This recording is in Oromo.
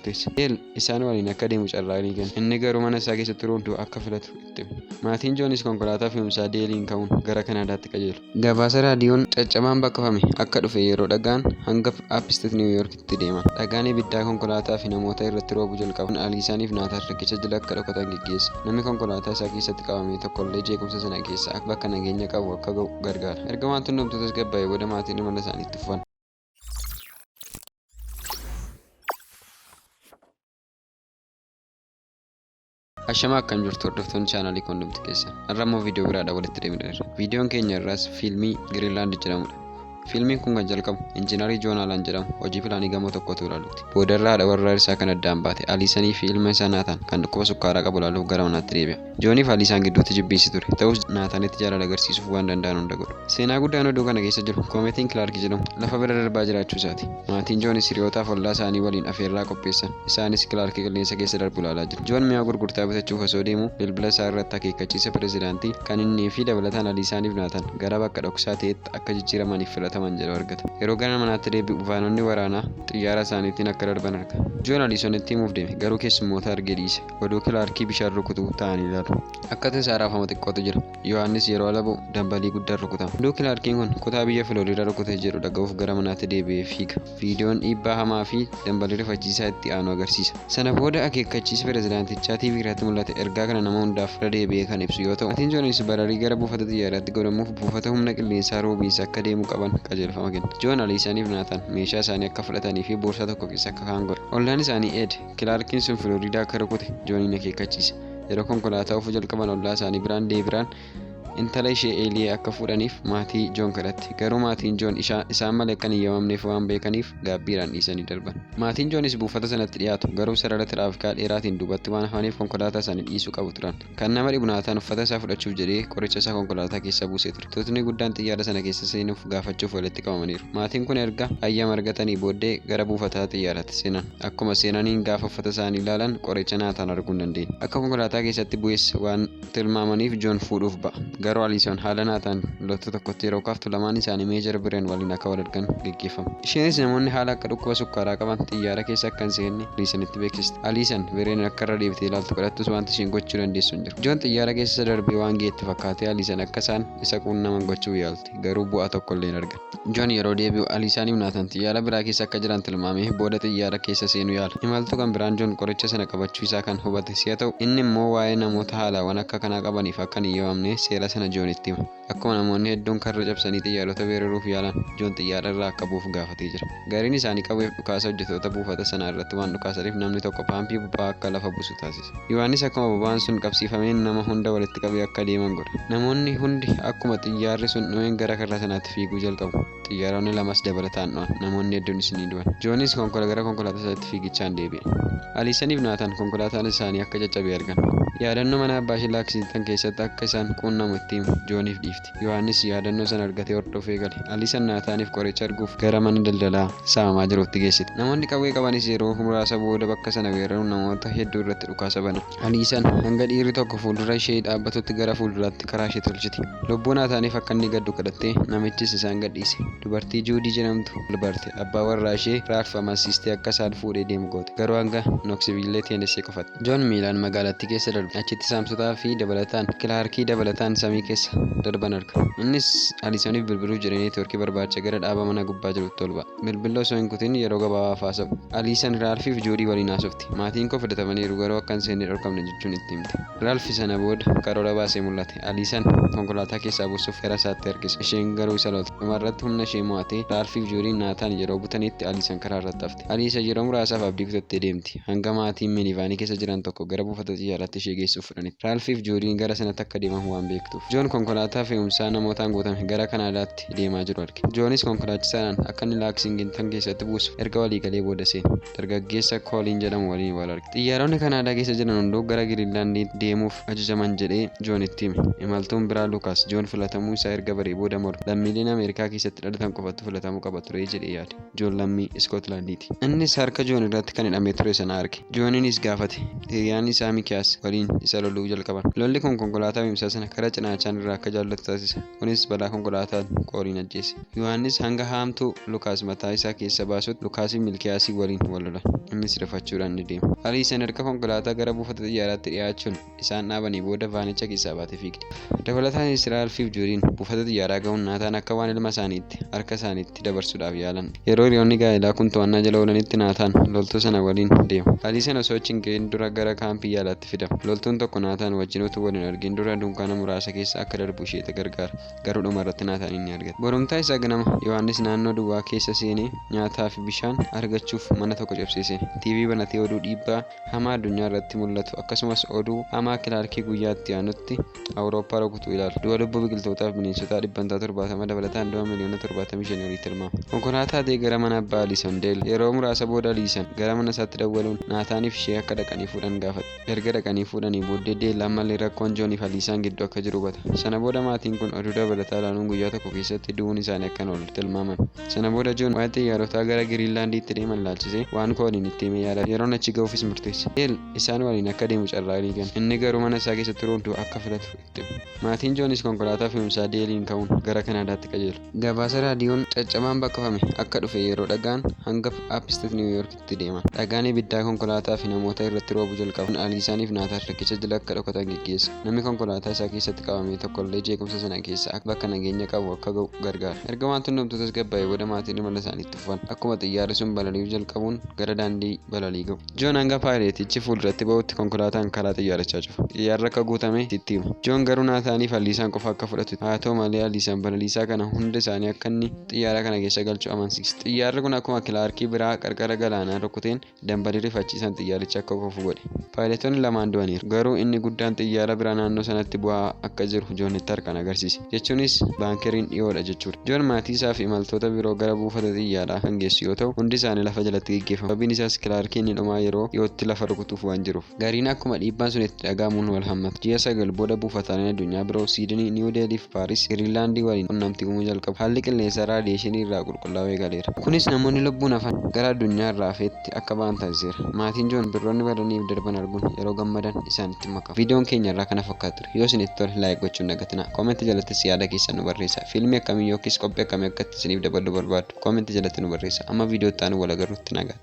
murteesse. Neel isaan waliin akka deemu carraaqii kenne. Inni garuu mana isaa keessa turuun du'a akka filatu itti hime. Maatiin Joonis konkolaataa fe'umsaa Deeliin ka'uun gara Kanaadaatti qajeelu. Gabaasa raadiyoon caccabaan baqfame akka dhufe yeroo dhaga'an hanga Apstet Niiw Yoorkitti deeman. Dhagaan ibiddaa konkolaataa fi namoota irratti roobuu jalqabu kun Aliisaanii fi Naataan riqicha jala akka dhokatan geggeesse. Namni konkolaataa isaa keessatti qabame tokkollee jeequmsa sana keessaa bakka nageenya qabu akka ga'u gargaara. Erga waan tunnumtuu tasgabbaa'ee booda maatiin imala isaanii itti fufan. Ashamaa akkam jirtu hordoftoonni chaanaalii koondumti keessan har'a immoo viidiyoo biraadha walitti deebineerra viidiyoon keenya irraas fiilmii giriinlaand jedhamudha fiilmiin kun kan jalqabu injiinarii joon haalaan jedhamu hojii pilaanii gamoo tokkotu ilaalutti boodarra haadha warraa isaa kan addaan baate aliisanii fi ilma isaa naataan kan dhukkuba sukkaaraa qabu ilaaluuf gara manaatti deebi'a Joonii fi Aliisaan gidduutti jibbiinsi ture. Ta'us Naataanitti jaalala agarsiisuuf waan danda'an hunda godhu. Seenaa guddaan oduu kana keessa jiru koomeetiin Kilaarki jedhamu lafa bira darbaa jiraachuu isaati. Maatiin Joonis hiriyootaa fi ollaa isaanii waliin afeerraa qopheessan. Isaanis Kilaarki qilleensa keessa darbu ilaalaa jiru. Joon mi'a gurgurtaa bitachuuf osoo deemuu bilbila isaa irratti akeekkachiisa pirezidaantii kan innii fi dabalataan Aliisaanii fi Naataan gara bakka dhoksaa ta'etti akka jijjiiramaniif filataman jedhu argata. Yeroo gara manaatti deebi'u vaanonni waraanaa xiyyaara isaaniitiin akka darban arga. Joon Aliisonitti himuuf deeme, garuu keessummoota argee dhiise. oduu kilaarkii bishaan rukutu ta'anii ilaalu. Akka tasaa raafama xiqqootu jira. Yohaannis yeroo ala ba'u dambalii guddaan rukutama. Oduu kilaarkiin kun kutaa biyya Filooriidaa rukute jedhu dhaga'uuf gara manaatti deebi'ee fiiga. Viidiyoon dhiibbaa hamaa fi dambalii rifachiisaa itti aanu agarsiisa. Sana booda akeekkachiisi pirezidaantichaa TV irratti mul'ate ergaa kana nama hundaaf irra deebi'ee kan ibsu yoo ta'u, Maatiin Joonis bararii gara buufata xiyyaaraatti godhamuuf buufata humna qilleensaa Roobiins akka deemuu qaban qajeelfama kenna. Joon, Aliisaanii fi Naataan meeshaa isaanii akka fudhatanii fi boorsaa tokko keessa akka kaa'an godha. Ollaan isaanii Eed, Kilaarkiin sun Filooriidaa akka rukute Jooniin akeekkachiise. Yeroo konkolaataa oofuu jalqaban ollaa isaanii biraan Deebiraan intala ishee Eeliyee akka fuudhaniif maatii Joon kadhatte. Garuu maatiin Joon isaan malee akka hin eeyyamamneef waan beekaniif gaabbiidhaan dhiisanii darban. Maatiin Joonis buufata sanatti dhiyaatu, garuu sarara tiraafikaa dheeraatiin duubatti waan hafaniif konkolaataa isaanii dhiisuu qabu turan. Kan nama dhibu Naataan uffata isaa fudhachuuf jedhee qoricha isaa konkolaataa keessa buusee ture. Tuutni guddaan xiyyaara sana keessa seenuuf gaafachuuf walitti qabamaniiru. Maatiin kun erga hayyama argatanii booddee gara buufataa xiyyaaraatti seenan. Akkuma seenaniin gaafa uffata isaanii ilaalan qoricha Naataan arguu hin dandeenye. Akka konkolaataa keessatti bu'es waan tilmaamaniif Joon fuudhuuf ba'a. Garuu Aliisoon haala Naataan loltuu tokkotti yeroo kaaftu lamaan isaanii Meejar Bireen waliin akka wal argan geggeeffama. Isheenis namoonni haala akka dhukkuba sukkaaraa qaban xiyyaara keessa akka hin seenne Aliisanitti beeksiste. Aliisan Vereen akka irra deebitee ilaaltu kadhattus wanti isheen gochuu dandeessu hin jiru. Joon xiyyaara keessa isa darbee waan ga'etti fakkaatee Aliisan akka isaan isa quunnaman gochuuf yaalte. Garuu bu'aa tokko illee hin arganne. Joon yeroo deebi'u Aliisaaniif Naatan xiyyaara biraa keessa akka jiran tilmaamee booda xiyyaara keessa seenuu yaala. Imaltuu kan biraan Joon qoricha sana qabachuu isaa kan hubate si'a ta'u, inni immoo waa'ee namoota haalaawwan akka kanaa qabaniif akka hin eyyamamne seera sana Joonitti hima. Akkuma namoonni hedduun karra cabsanii xiyyaarota weeraruuf yaalan, Joon xiyyaara irraa akka bu'uuf gaafatee jira. Gariin isaanii qawweef dhukaasa hojjetoota buufata sanaa irratti waan dhukaasaniif namni tokko paampii boba'aa akka lafa buusu taasisa. Yohaannis akkuma boba'aan sun qabsiifameen nama hunda walitti qabee akka deeman godha. Namoonni hundi akkuma xiyyaarri sun dhumeen gara karra sanaatti fiiguu jalqabu. Xiyyaaronni lamas dabalataan dho'an. Namoonni hedduunis ni du'an. Joonis konkola gara konkolaataa isaatti fiigichaan deebi'e. Aliisaniif Naataan konkolaataan isaanii akka caccabe argan. Yaadannoo mana abbaa ishee Laaksiingtan keessatti akka isaan quunnamu itti himu. Jooniif dhiifte. Yohaannis yaadannoo sana argatee hordofee gale. Aliisan Naataaniif qoricha arguuf gara mana daldalaa saamamaa jiruutti geessite. Namoonni qawwee qabanis yeroo muraasa booda bakka sana weeraruun namoota hedduu irratti dhukaasa banan. Aliisan hanga dhiirri tokko fuuldura ishee dhaabbatutti gara fuulduraatti karaa ishee tolchite. Lubbuu Naataaniif akka inni gaddu kadhattee namichis isaan gadhiise. Dubartii Juudii jedhamtu wal barte. Abbaa warraa ishee Raalf amansiistee akka isaan fuudhee deemu goote. Garuu hanga Noksiville, Teenessee qofatti. Joon miilaan magaalattii keessa darbe. Achitti saamsotaa fi dabalataan Kilaarkii dabalataan samii keessa darban arga. Innis Aliisaniif bilbiluuf jedhee neetwoorkii barbaacha gara dhaaba mana gubbaa jirutti ol ba'a. Bilbilla osoo hin kutin yeroo gabaabaaf haasa'u. Aliisan Raalfii fi Joodii waliin haasofti. Maatiin koo filatamaniiru garuu akka hin seenne dhorkamne jechuun itti himte. Raalfi sana booda karoora baasee mul'ate. Aliisan konkolaataa keessaa buusuuf gara isaatti harkise. Isheen garuu isa lolte. Dhumarratti humna ishee mo'atee Raalfii fi Joodiin Naataan yeroo butanitti Aliisan karaa irratti hafte. Aliisan yeroo muraasaaf abdii kutattee deemti. Hanga maatiin minivaanii keessa jiran tokko gara buufata xiyyaaraatti ishee geessuuf fudhanitti. Raalfii fi Joodiin gara sanatti akka deemamu waan beektuuf. Joon konkolaataa fe'umsaa namootaan guutame gara Kanaadaatti. itti deemaa jiru arge. Joonis konkolaachisaadhaan akka inni Laaksiingintan keessatti buusu erga walii galee booda seene. Dargaggeessa Kooliin jedhamu waliin wal arge. Xiyyaaronni Kanaadaa keessa jiran hunduu gara Giriinlaandiitti deemuuf ajajaman jedhee Joonitti hime. Imaltuun biraa Luukaas, Joon filatamuu isaa erga baree booda morme. Lammiileen Ameerikaa keessatti dhalatan qofatu filatamuu qaba ture jedhee yaade. Joon lammii Iskootilaandiiti. Innis harka Joon irratti kan hidhamee ture sana arge. Jooniinis gaafate. Hiriyaan isaa Mikiyaas waliin isa loluu jalqaban. Lolli kun konkolaataa fe'umsaa sana karaa cinaachaan irraa akka jaallatu taasise. Kunis balaa konkolaataan qooriin ajjeese. Yohaannis hanga haamtuu Lukaas mataa isaa keessa baasutti Lukaasiin Milkiyaasii waliin wal lolan. Innis rifachuudhaan ni deema. Aliisan erga konkolaataa gara buufata xiyyaaraatti dhiyaachuun isaan dhaabanii booda vaanicha keessaa baatee fiigdi. Dabalataanis Raalfiif Juudiin buufata xiyyaaraa ga'uun Naataan akka waan ilma isaaniitti harka isaaniitti itti dabarsuudhaaf yaalan. Yeroo hiriyoonni gaa'elaa kun to'annaa jala oolanitti Naataan loltuu sana waliin deema. Aliiseen osoo achi hin ga'in dura gara kaampii yaalaatti fidama. Loltuun tokko Naataan wajjin utuu wal hin argin dura dunkaana muraasa keessa akka darbu ishee gargaara, garuu dhumarratti Naataaniin ni argata. Borumtaa isaa ganama, Yohaannis naannoo duwwaa keessa seenee nyaataa fi bishaan argachuuf mana tokko cabsee seena. TV banatee oduu dhiibbaa hamaa addunyaa irratti mul'atu, akkasumas oduu hamaa kilaarkii guyyaa itti aanutti Awurooppaa rukutu ilaali. Du'a lubbuu biqiltootaa fi bineensotaa dhibbantaa 70 dabalataan du'a miliyoona 75 olii tilmaama. Konkolaataa ta'ee gara mana abbaa Aliisan Deel. Yeroo muraasa booda Aliisan gara mana isaatti dawwaluun Naataan fi ishee akka dhaqanii fuudhan gaafata. Erga dhaqanii fuudhanii booddee Deel ammallee rakkoon Joon fi Aliisaan gidduu akka jiru hubata. Sana booda maatiin kun oduu dabalataa ilaaluun guyyaa tokko keessatti du'uun isaanii akka hin oolle tilmaaman. Sana booda Joon waa'ee xiyyaarotaa gara Giriinlaandiitti deeman ilaalchisee waan Kooliin itti hime yaadata. Yeroon achi ga'uufis murteessa. Deel. Isaan waliin akka deemu carraaqii kenna. Inni garuu mana isaa keessa turuun du'a akka filatu itti hima. Maatiin Joonis konkolaataa fe'umsaa Deeliin ka'uun gara Kanaadaatti qajeelu. Gabaasa raadiyoon caccabaan baqafame akka dhufe yeroo dhaga'an hanga Apstet Niiw Yoorkitti deeman. Dhagaan ibiddaa konkolaataa fi namoota irratti roobu jalqaba. Kun Aliisaan fi Naataan riqicha jala akka dhokatan geggeessa. Namni konkolaataa isaa keessatti qabame tokkollee jeequmsa sana keessaa bakka nageenya qabu akka ga'u gargaara. Erga wanti hundumtuu tasgabbaa'ee booda maatiin imala isaaniitti fufu. dhufan akkuma xiyyaarri sun balali'uu jalqabuun gara daandii balalii gahu. Joon hanga paayileetichi fuulduratti bahutti konkolaataan karaa xiyyaarichaa cufa. Xiyyaarri akka guutame itti hima. Joon garuu Naataaniif Aliisaan qofa akka fudhatu itti hima. Haa ta'u malee Aliisaan balaliisaa kana hunda isaanii akka inni xiyyaara kana keessa galchu amansiisa. Xiyyaarri kun akkuma Kilaarkii biraa qarqara galaanaa rukuteen Dambalii rifachiisaan xiyyaarichi akka kufu godhe. Paayiletoonni lamaan du'aniiru. Garuu inni guddaan xiyyaara biraa naannoo sanatti bu'aa akka jiru Joon Hittar kan agarsiise. Jechuunis baankeriin dhiyoodha jechuudha. Joon maatii isaa fi imaltoota biroo gara buufata xiyyaaraa kan geessu yoo ta'u, hundi isaanii lafa jalatti geggeeffamu. Sababiin isaas Kilaarkiin ni dhumaa yeroo dhiyootti lafa rukutuuf waan jiruuf. Gariin akkuma dhiibbaan sun itti dhaga'amuun wal hammatu. Ji'a sagal booda buufataaleen addunyaa biroo Siidinii, Niiw Deelhii fi Paaris, Giriinlaandii waliin qunnamtii uumuu jalqabu. Haalli qilleensaa raadiyeeshinii irraa qulqullaa'uu eegaleera. Kunis namoonni lubbuun hafan gara addunyaa irraa hafeetti akka ba'an taasiseera. Maatiin Joon simbirroonni badanii fi darban arguun yeroo gammadan isaanitti makamu. Viidiyoon keenya irraa kana fakkaata ture. Yoo isinitti tole like gochuu hin dagatinaa. Comment jalattis yaada keessan nu barreessaa. Fiilmii akkamii yookiis qophii akkamii akka itti isiniif daballu barbaaddu comment jalatti nu barreessaa. Amma viidiyoo itti aanuun wal agarrutti nagaatti.